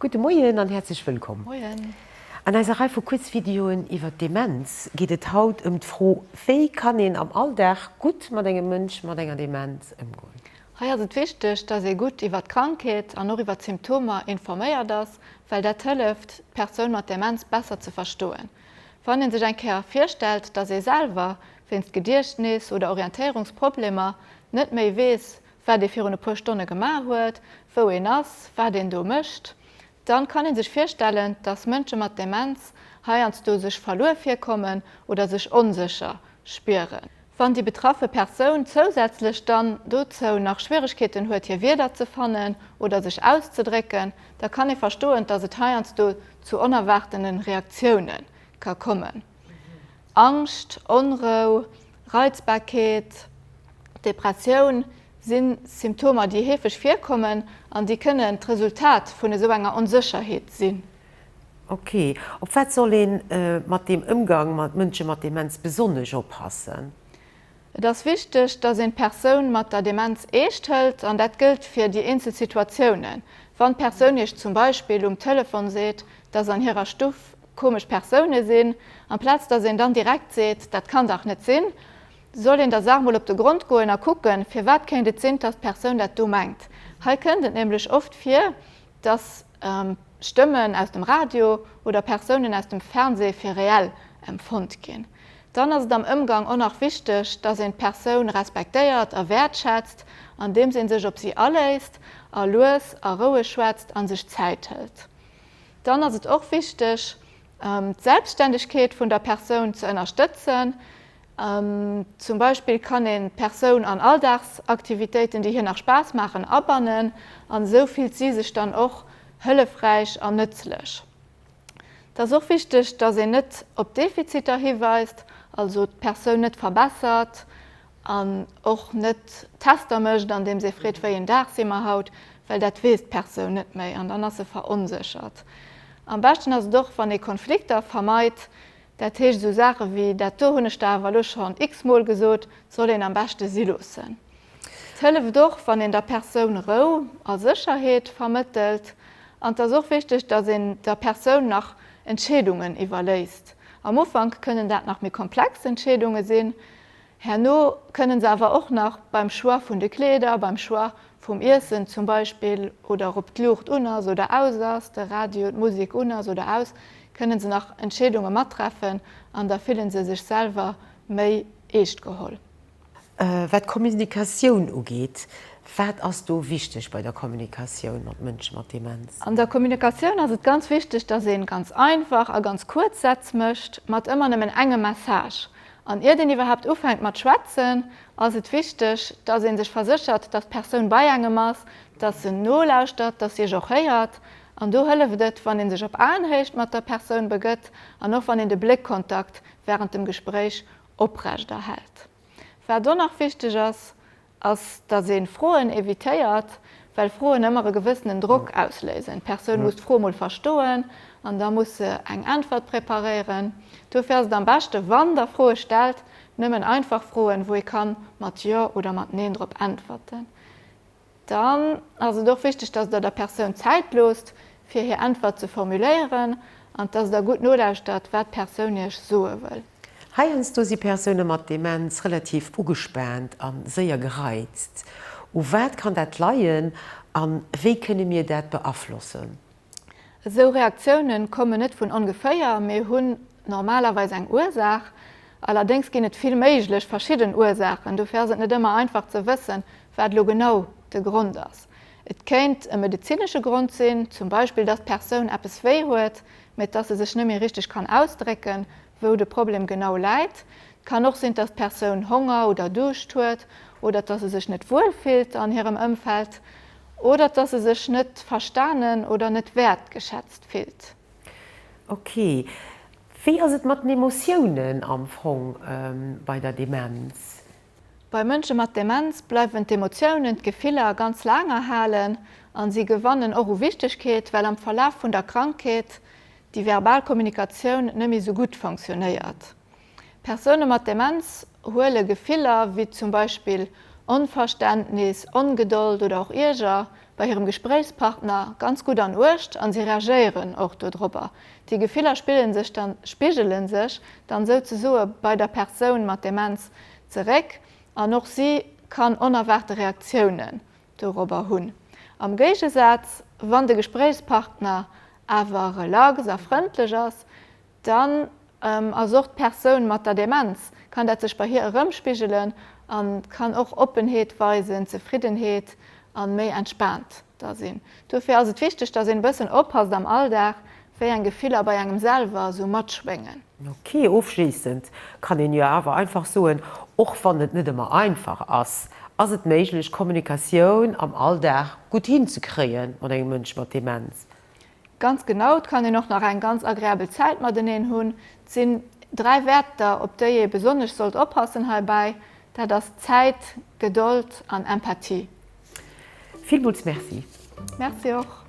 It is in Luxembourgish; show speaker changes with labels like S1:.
S1: Gudde Moien an häerzlech wëllkomm! Moien! An eiser Rei vu Kuerzvideoen iwwert Demenz geet et haut ëm d'Fro, Wéi kann een am Alldag gutt mat engem Mënsch mat enger Demenz ëmgoen? Hei ass et wichteg, dass ee gutt iwwert d'Krankheet an och iwwert d'Symptomer informéiert ass, well dat hëlleft, d'Persoun mat Demenz besser ze verstoen. Wann ee sech eng Kéier virstellt, dass ee selwer wéinst Gediechtnis oder Orientéierungsproblemer net méi weess, wat ee virun e puer Stonne gemaach huet, wou een ass, wat een do mécht, da kann ee sech virstellen, dass Mënsche mat Demenz heiansdo sech verluer virkommen oder sech onsécher spieren. Wann déi betraffe Persoun zousätzlech dann dozou nach Schwieregkeeten huet, hir Wierder ze fannen oder sech auszedrécken, da kann ee verstoen, dass et heiansdo zu onerwaartene Reaktioune ka kommen. Angscht, Onrou, Reizbarkeet, Depressioun si Symptomer, déi heefeg virkommen an déi kënnen d'Resultat vun esou enger Onsécherheet sinn. Ok. Op wat soll ee mat deem Ëmgang mat Mënsche mat Demenz besonnesch oppassen? Et ass wichteg, datt een d'Persoun mat der Demenz eescht hëlt an dat gëllt fir déi eenzel Situatiounen. Wann d'Persoun Iech zum Beispill um Telefon seet, datt an hirer Stuff komesch Persoune sinn, amplaz datt een dann direkt seet, dat kann dach net sinn, soll een der Saach mol op de Grond goen a kucken, firwat kéint et sinn, datt d'Persoun dat do mengt. Hei kënnt et nämlech oft vir, datt. Stëmmen aus dem Radio oder Persounen aus dem Fernseh fir reell empfonnt ginn, dann ass et am Ëmgang och nach wichteg, dass een d'Persoun respektéiert a wäertschätzt, andeems ee sech op si aléisst a lues a roueg schwätzt a sech Zäit hëlt. Dann ass et och wichteg, d'Selbstständegkeet vun der Persoun ze ënnerstëtzen, Zum Beispill kann een d'Persoun an Alldagsaktivitéiten, déi hir nach Spaass maachen, abannen an esou fillt si sech dann och hëllefräich an nëtzlech. Et ass och wichteg, dass een net op Defiziter hiweist, also d'Persoun net verbessert an och net Tester mécht, andeems ee freet, wéi een Dag si mer haut, well dat weess d'Persoun net méi an dann ass se veronséchert. Am beschten ass et och, wann ee Konflikter vermeit, Dat heescht, esou Saache wéi dat do hunn ech der awer elo schonn x-mol gesot, soll een am beschte si loossen. Et hëlleft och, wann een der Persoun Rou a Sécherheet vermëttelt. An et ass och wichteg, datt een der Persoun nach Entscheedungen iwwerléisst. Am Ufank kënnen dat nach méi komplex Entscheedunge sinn. Herno kënnen se awer och nach beim Choix vun de Kleeder, beim Choix vum Iessen zum Beispill oder ob d'Luucht un ass oder aus ass, de Radio, d'Musek un ass oder aus, kënnen se nach Entscheedunge mattreffen an da fillen se sech selwer méi eescht geholl. Wat d'Kommunikatioun ugeet, wat ass do wichteg bei der Kommunikatioun mat Mënsche mat Demenz? An der Kommunikatioun ass et ganz wichteg, dass ee ganz einfach a ganz kuerz Sätz mécht mat ëmmer nëmmen engem Message. An iert een iwwerhaapt ufänkt mat schwätzen, ass et wichteg, dass ee sech verséchert, dass d'Persoun bei engem ass, dass se nolauschtert, dass si iech och héiert. An do hëlleft et, wann ee sech op Aenhéicht mat der Persoun begëtt an och wann een de Bléckkontakt wärend dem Gespréich oprechterhält. Wat och nach wichteg ass, ass, datt ee Froen evitéiert, well Froen ëmmer e gewëssenen Drock ausléisen. D'Persoun muss d'Fro mol verstoen an da muss se eng Äntwert preparéieren. Dofir ass et am beschte wann Der Froe stellt, nëmmen einfach Froen, wou ee ka mat Jo oder mat Neen drop äntwerten. Dann ass et och wichteg, datt Der der Persoun Zäit loosst, fir hir Äntwert ze formuléieren an datt Der gutt nolauschtert, wat d'Persoun Iech soe wëll. Heiansdo si Persoune mat Demenz relativ ugespaant a séier gereizt. U wat kann dat leien a wéi kënne mir dat beaflossen? Esou Reaktioune kommen net vun ongeféier, mee hunn normalerweis eng Ursaach. Allerdéngs ginn et vill méiglech verschidden Ursaachen, dofir ass et net ëmmer einfach ze wëssen, wat elo genau de Grond ass. Et kéint e medezinesche Grond sinn, zum Beispill, dass d'Persoun eppes wéi huet, mä dass e sech net méi richteg kann ausdrécken, wou de Problem genau läit. Et kann och sinn, dass d'Persoun Honger oder Duuscht huet oder dass e sech net wuel fillt an hirem Ëmfeld oder dass e sech net verstanen oder net wäertgeschätzt fillt. Ok, wéi ass et mat den Emotiounen am Fong bei der Demenz? Bei Mënsche mat Demenz bleiwen d'Emotiounen, d'Gefiller ganz laang erhalen a si gewannen och u Wichtegkeet, well am Verlaf vun der Krankheet déi verbal Kommunikatioun net méi sou gutt funktionéiert. Persoune mat Demenz huele Gefiller wéi zum Beispill Onverständnis, Ongedold oder och Ierger bei hirem Gespréichspartner ganz gutt an Uecht a si reagéieren och dodropper. Déi Gefiller spigelen sech dann, spigelen sech dann souzesoe bei der Persoun mat Demenz zeréck an och si kann onerwaarte Reaktiounen dorobber hunn. Am Géigesaz, wann de Gespréichspartner awer relax a frëndlech ass, Dann ass och d'Persoun mat der Demenz, kann dat sech bei hir erëmspigelen a kann och Oppenheet weisen, Zefriddenheet a méi entspaant da sinn. Dofir ass et wichteg, dass een e bëssen oppasst am Alldag, wéi eng Gefiller bei engem selwer esou matschwéngen. Ok, ofschléissend kann een jo awer einfach soen, och wann et net ëmmer einfach ass, ass et méiglech, Kommunikatioun am Alldag gutt hinzekréie mat engem Mënsch mat Demenz? Ganz genau, et kann een och nach eng ganz agreabel Zäit mateneen hunn. Et sinn dräi Wäerter, op déi ee besonnesch sollt oppassen heibäi, dat ass Zäit, Gedold an Empathie. Villmools Merci! Merci och!